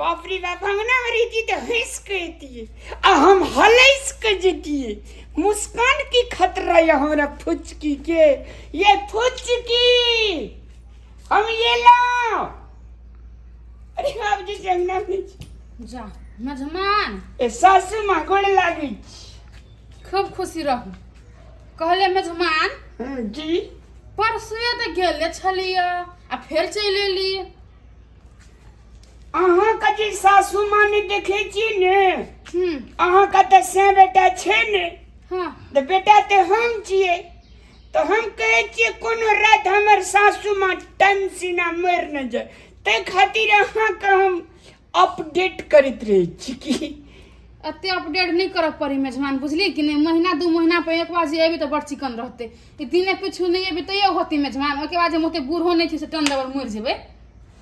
बाप रे बाप हम ना रहिती तऽ हँसि कऽ अयतियै आ हम हलसि कऽ जैतियै मुस्कान की खतरा यऽ हमरा फुचकी के ये फुचकी हम ये लाओ अरे बाप जी से अंगना में छी। जा मेजमान ए सासू माँ गोड़ लागै छी खूब खुशी रहू कहले मेजमान हँ, जी परसुए तऽ गेले छलियै आ फेर चलि एली अहाँके जे सासू माँ ने देखे छी ने हम्म, अहाँके तऽ से बेटा छै ने हाँ तऽ बेटा तऽ हम छियै तऽ हम कहै छियै कोनो राति हमर सासू माँ टन सिना मरि नहि जाय ताहि खातिर अहाँके हम अपडेट करैत रहै छी कि एते अपडेट नहीं करऽ पड़ी मेजबान बुझली कि नहीं महीना दू महीना पर एक बार जे एबी तो बड़ चिकन रहते ई दिने कुछ नहीं एबी तैयो होती मेजबान ओके बाद जे मोते बूढ़ो नहीं थी से टन दबर मर जेबे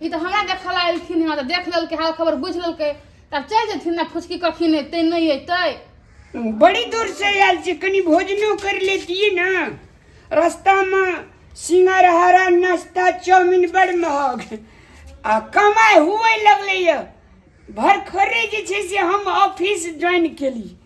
ई तऽ हमरा देखऽ ला एलखिन हँ तऽ देख लेलकै हाल खबर बुझि लेलकै तब चलि जेथिन ने फुचकी कखन एतै नहि एतै बड़ी दूर से आयल छी कनी भोजनो कर लेतियै ने रस्तामे सिंगरहारा नाश्ता चाउमिन बड़ महग आ कमाइ हुए लगलैए भरखरे जे छै से हम ऑफिस ज्वाइन केली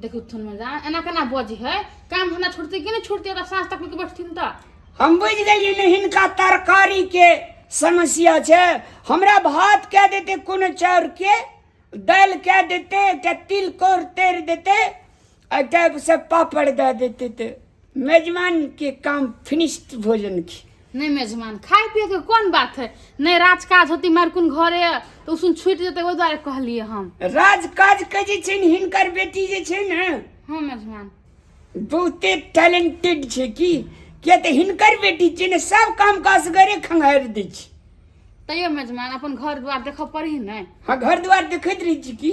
देखू थुन में जान एना केना बजी है काम हमरा छोड़ते कि नहीं छोड़ते ओकरा साँझ तक लेके बैठथिन तऽ हम बुझि गेलियै ने हिनका तरकारी के समस्या छै हमरा भात कए देते कोनो चाउर के दालि कए देते एकटा तिलकोर तरि देते आ एकटा से पापड़ दए देते तऽ मेजमान के काम फिनिश्ड भोजन की नहि मेजमान खाय पिए के कोन बात है नहि राज काज होती मार कोन घरे तऽ उसुन छूटि जेतै ओहि दुआरे कहलिए हम राज काज के जे छै ने हिनकर बेटी जे छै ने हँ मेजमान बहुते टैलेंटेड छै की किया तऽ हिनकर बेटी छै ने सब काम काज असगरे खंगारि दै छै तैयो मेजमान अपन घर दुआर देखऽ पड़ी ने हँ घर दुआर देखैत रहै छी की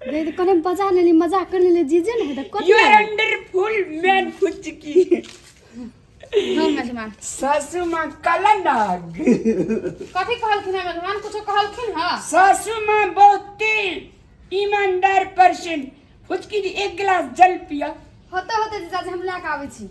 दीदी कोने बजा लेली मजाक कर लेली जीजे ने हेतै कथी you are under full man फुचकी हाँ मेजमान सासू माँ काला नाग कथी कहलखिन है मेजमान कुछो कहलखिन है सासू माँ बहुते ईमानदार पर्सन फुचकी जी एक गिलास जल पिया होते होते जीजा जी हम लए के आबै छी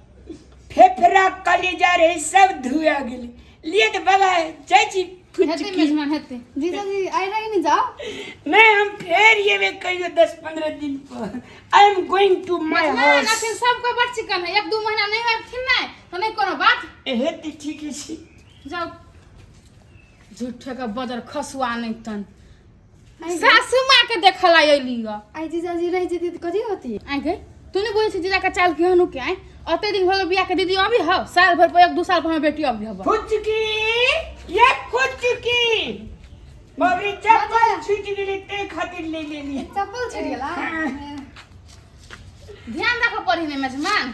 फेफड़ा कलीजा रहे सब धुआ गेल लिए तो बाबा चाची कुछ हेतै की मेजमान हेतै जीजाजी आइ रही ने जाओ नहीं हम फेर ये में कहियो दस पंद्रह दिन पर I am going to my मेजमान हाउस अखन सबके बड़ चिकन है एक दू महीना नहीं आबथिन नहि तऽ नहि कोनो बात एहे ती ठीक है छी जाओ झूठे के बदर खसुआ नहि तन सासू माँ के देखल आई अली ग आई जीजाजी रह जेती तो कथी होती आई गई तू नहीं बोले जीजा का चाल क्यों नु के आई अते दिन होलो बिया के दीदी अभी हो साल भर पर एक दो साल पर बेटी अभी हबो फुचकी ये फुचकी मम्मी चप्पल छूट गेली ते खातिर ले लेली चप्पल छूट गेला ध्यान रखो पढ़ने में जमान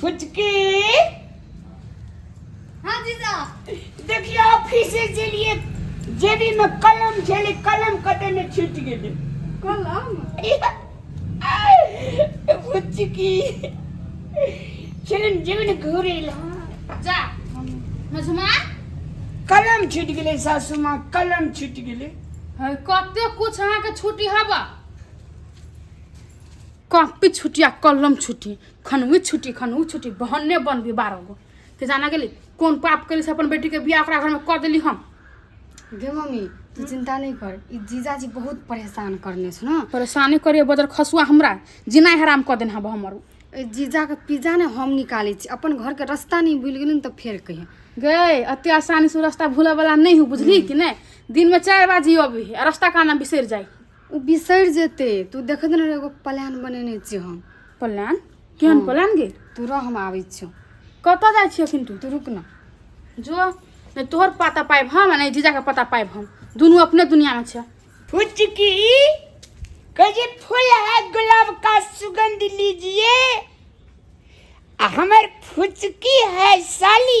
फुचकी हाँ जीजा देखिए ऑफिस के लिए जेबी में कलम छले कलम कटे में छूट गेले कलम फुचकी चलन जीवन घूरे ला जा मझुमा कलम छूट गेले सासू माँ कलम छूट गेले है कते कुछ अहाँ के छुट्टी हवा कॉपी छुट्टी आ कलम छुट्टी खनवी छुट्टी खनवी छुट्टी बहने बनबी बारह गो के जाना गेली कोन पाप कैली से अपन बेटी के बियाह ओकरा घर में कर देली हम गे मम्मी तू चिंता नहीं कर ई जीजाजी बहुत परेशान करने छ ना परेशानी करिए बदर खसुआ हमरा जिनाइ हराम कऽ देन हब हमर उ। ए जीजा के पिज्जा ने हम निकाले छी अपन घर के रास्ता नहीं भूल गेली न तो फेर कहिए गए अते आसानी से रास्ता भूले वाला नहीं हूँ बुझली कि नहीं दिन में चार बाजी अभी आ रास्ता का नाम बिसर जाई ओ बिसरि जेते तू देखे दे ने एगो प्लान बनेने छियै हम प्लान केहन हँ। प्लान गे तू रह हम आबै छियौ कतऽ जाइ छियै अखन तू तू रुक ने जो नहि तोहर पता पाइब हम आ नहि जीजाके पता पाइब हम दुनू अपने दुनियामे छै फुचकी कहे फूल है गुलाब का सुगंध लीजिए आ हमर फुचकी है साली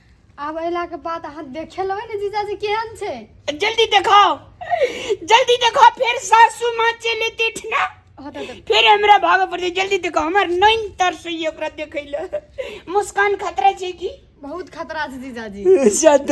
आब अयला के बाद अहाँ देखे लेबै ने जीजाजी केहन छै जल्दी देखाओ जल्दी देखाओ फिर सासू माँ चले देठ ना फिर हमरा भाग पड़ते जल्दी देखाओ हमर नैन तर से ये ओकरा देखे ले मुस्कान खतरा छै की बहुत खतरा छै जीजाजी शायद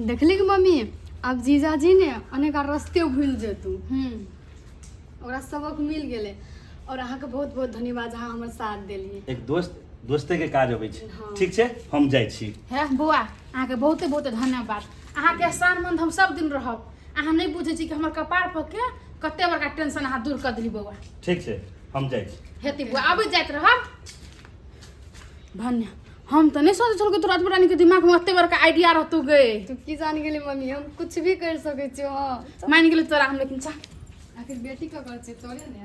देखली कि मम्मी आब जीजाजी ने अनेका रस्ते भूल जेतू हम्म ओकरा सबक मिल गेले और अहाँ के बहुत बहुत धन्यवाद अहाँ हमर साथ देलिए एक दोस्त दोस्ते के काज अबै छै हाँ। ठीक छै हम जाइ छी हे बौआ अहाँके बहुते बहुते धन्यवाद अहाँके एहसानमंद हम सब दिन रहब अहाँ नहि बुझै छी कि हमर कपार पर के कते बड़का टेंशन अहाँ दूर कर देली बौआ ठीक छै हम जाइ छी हेती बौआ अबै जाइत रहब भन्य हम तऽ नहि सोचै छलहुँ कि तोरा एतबा रानीके दिमागमे एते बड़का आइडिया रहतौ गे तू की जान गेली मम्मी हम कुछ भी कर सकै छियो हां मान गेलै तोरा हम लेकिन चाह आखिर बेटी ककर छै तोरे ने